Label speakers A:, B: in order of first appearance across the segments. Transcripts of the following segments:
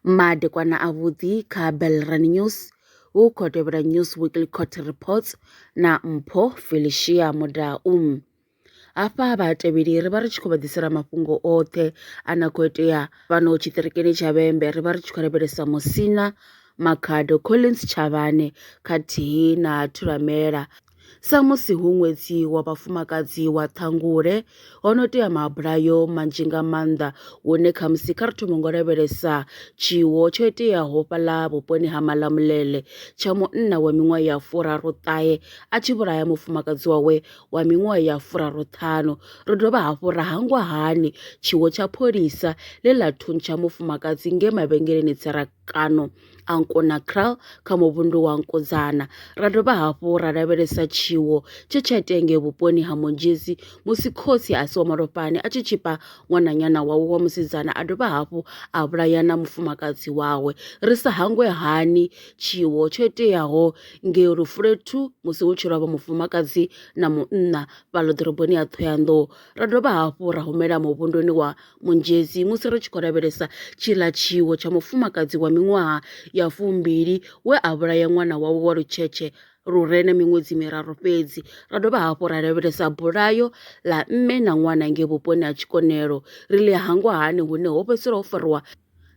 A: Madekwana avhuḓi kha Belrani News hu khou tevhela News Weekly Court Reports na Mpho Felicia Mudau. Hafha vhatevheli ri vha ri tshi khou vha ḓisela mafhungo oṱhe a na khou itea fhano tshiṱirikini tsha Vhembe ri vha ri tshi khou lavhelesa Musina Makhado Collins Tshavhane khathihi na Thulamela Samusi hu ṅwedzi wa vhafumakadzi wa Ṱhangule, ho no tea maabulayo manzhi nga maanḓa hune khamusi kha ri thome ngo lavhelesa tshiwo tsho iteaho fhaḽa vhuponi ha Malamulele tsha munna wa miṅwaha ya furaru ṱahe a tshi vhulaya mufumakadzi wawe wa miṅwaha ya furaru ṱhanu. Ro dovha hafhu ra hangwa hani tshiwo tsha pholisa ḽe ḽa thuntsha mufumakadzi nge mavhengeleni tserakano a Nkonakraal kha muvhundu wa Nkodzana. Ra dovha hafhu ra lavhelesa tshiwo tshe tsha itea ngei vhuponi ha Monjezi musi khotsi a si wa malofhani a tshi tshipa ṅwananyana wawe wa musidzana a dovha hafhu a vhulaya na mufumakadzi wawe. Ri sa hangwe hani tshiwo tsho iteaho ngei Lufulethu musi hu tshi lovha mufumakadzi na munna fhaḽo ḓoroboni ya Thohoyandou. Ra dovha hafhu ra humela muvhunduni wa Munzhedzi, musi ri tshi khou lavhelesa tshiḽa tshiwo tsha mufumakadzi wa miṅwaha ya fumbili we a vhulaya ṅwana wawe wa lutshetshe lu re na miṅwedzi miraru fhedzi, ra dovha hafhu ra lavhelesa bulayo ḽa mme na ṅwana ngei vhuponi ha Tshikonelo, ri ḽi hangwa hani hune ho fhedzisela ho fariwa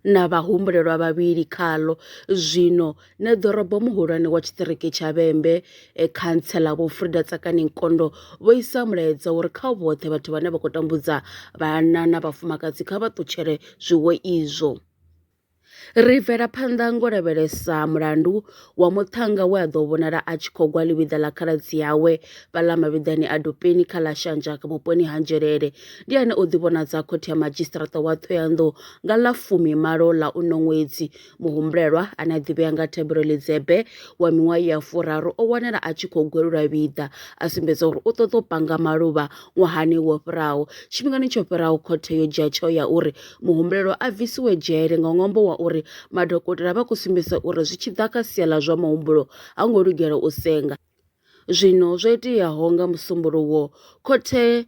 A: na vhahumbulelwa vhavhili khaḽo. Zwino Neḓorobo muhulwane wa tshiṱiriki tsha Vhembe, e, Khantseḽa Vho Frida Tsakani Nkondo vho isa mulaedza uri kha vhoṱhe vhathu vhane vha khou tambudza vhana na vhafumakadzi kha vha ṱutshele zwiwo izwo. Ri bvela phanḓa ngo lavhelesa mulandu wa muṱhannga we a ḓo vhonala a tshi khou gwa ḽivhiḓa ḽa khaladzi yawe vhaḽa mavhiḓani a dupeni kha ḽa shanjaka vhuponi ha nzhelele ndi ane o ḓivhonadza khothe ya madzhisiṱiraṱa wa ṱhoyanḓou nga ḽa fumi malo ḽa uno ṅwedzi muhumbulelwa ane a ḓivhea nga thabelo ḽidzebe wa miṅwaha ya furaru o wanala a tshi khou gwelula vhiḓa a sumbedza uri u ṱoḓa u panga maluvha ṅwahani wo fhiraho tshifhingani tsho fhiraho khothe yo dzhia tsheo ya uri muhumbelelwa a bvisiwe dzhele nga ṅwambo wa uri madokotela vha khou sumbedzisa uri zwi tshi ḓa kha sia ḽa zwa muhumbulo ha ngo lugela u senga. Zwino zwo iteaho nga Musumbuluwo, khothe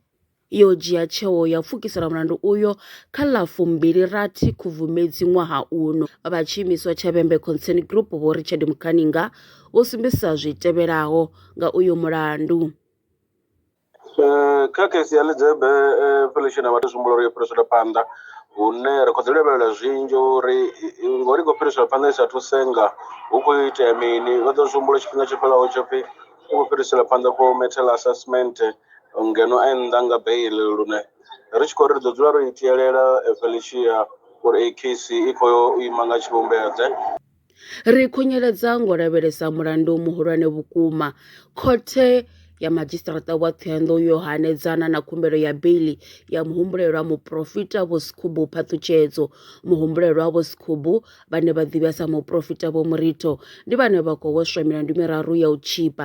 A: yo dzhia tsheo ya u pfukisela mulandu uyo kha ḽa fumbili rathi Khubvumedzi ṅwaha uno. Vha tshiimiswa tsha Vhembe Concern Group Vho Richard Mukhaninga vho sumbedzisa zwi tevhelaho nga uyo mulandu. Eh,
B: kha kheisi ya ḽidzebe eh, felesheni ya vhathu zwi humbula uri yo fhiriselwa phanḓa hune ri khou ḓi lavhelela zwinzhi uri i- i- ngori i khou fhiriselwa phanḓa i sathu senga hu khou itea mini vha ḓo zwi humbula tshifhinga tsho fhelaho tsho pfhi u khou fhiriselwa phanḓa for metal assessment eh, ngeno a nnḓa nga bail lune ri tshi khou ri ri ḓo dzula ro i tielela eh, felicia uri ei case i khou yo u ima nga tshivhumbeo ḓe Ri
A: khunyeledza ngo lavhelesa mulandu muhulwane vhukuma. Khothe ya Madzhisiṱaraṱa wa Thohoyandou yo hanedzana na khumbelo ya beiḽi ya muhumbulelwa muporofita Vho Sikhubu Phaṱhutshedzo. Muhumbulelwa Vho Sikhubu, vhane vha ḓivhiwa sa muporofita Vho Muritho, ndi vhane vha khou hweswa milandu miraru ya u tshipa.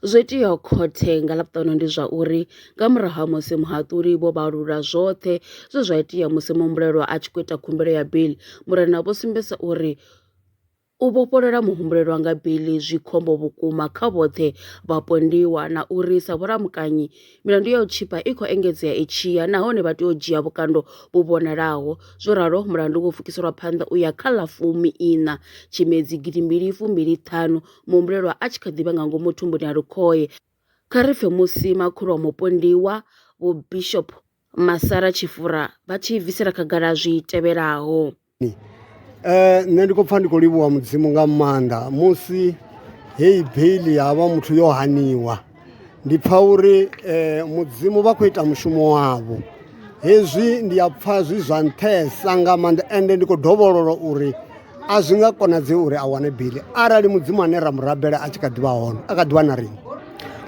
A: Zwo iteaho khothe nga Ḽavhuṱanu ndi zwa uri nga murahu ha musi muhaṱuli vho vhalula zwoṱhe zwe zwa itea musi muhumbulelwa a tshi khou ita khumbelo ya bili, murena vho sumbedza uri u vhofholola muhumbulelwa nga bili zwi khombo vhukuma kha vhoṱhe vhapondiwa na uri sa vhulamukanyi milandu ya u tshipa i khou engedzea i tshi ya nahone vha tea u dzhia vhukando vhu vhonalaho. Zwo ralo mulandu wo pfukiselwa phanḓa u ya kha ḽa fumi iṋa Tshimedzi gidimbili fumbili ṱhanu muhumbulelwa a tshi kha ḓi vha nga ngomu thumbuni ha lukhohe. Kha ri pfe musi makhulu wa mupondiwa, Vho Bishop Masara Tshifura, vha tshi bvisela khagala zwi tevhelaho. Eh, nṋe
C: ndi khou pfa ndi khou livhuwa mudzimu nga maanḓa musi heyi beiḽi ya vha muthu yo haniwa ndi pfha uri eh, mudzimu vha khou ita mushumo wavho hezwi ndi a pfha zwi zwa nṱhesa nga maanḓa ende ndi khou dovhololwa uri a zwi nga konadzei uri a wane bili arali mudzimu ane ra mu rabela a tshi kha ḓivha hone a kha ḓivha na riṋe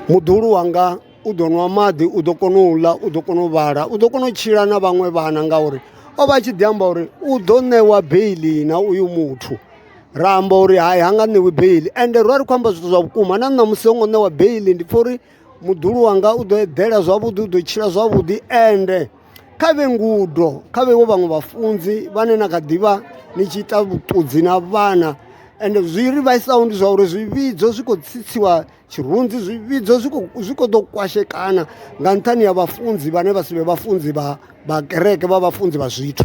C: muḓulu wanga u ḓo nwa maḓi u ḓo kona u ḽa u ḓo kona u vhala u ḓo kona u tshila na vhaṅwe vhana ngauri o vha a tshi ḓi amba uri u ḓo ṋewa beili na uyu muthu ra amba uri hai ha nga ṋewi beiḽi ende ro vha ri khou amba zwithu zwa vhukuma na ṋamusi ho ngo ṋewa beiḽi ndi pfha uri muḓulu wanga u ḓo eḓela zwavhuḓi u ḓo tshila zwavhuḓi ende kha vhe ngudo kha vhevho vhaṅwe vhafunzi vhane na kha ḓivha ni tshi ita vhuṱudzi na vhana ende zwi ri vhaisaho ndi zwa uri zwivhidzo zwi khou tsitsiwa tshirunzi zwivhidzo zwi khou zwi khou ḓo kwashekana nga nṱhani ha vhafunzi vhane vha si vhe vhafunzi vha vha kereke vha vhafunzi vha zwithu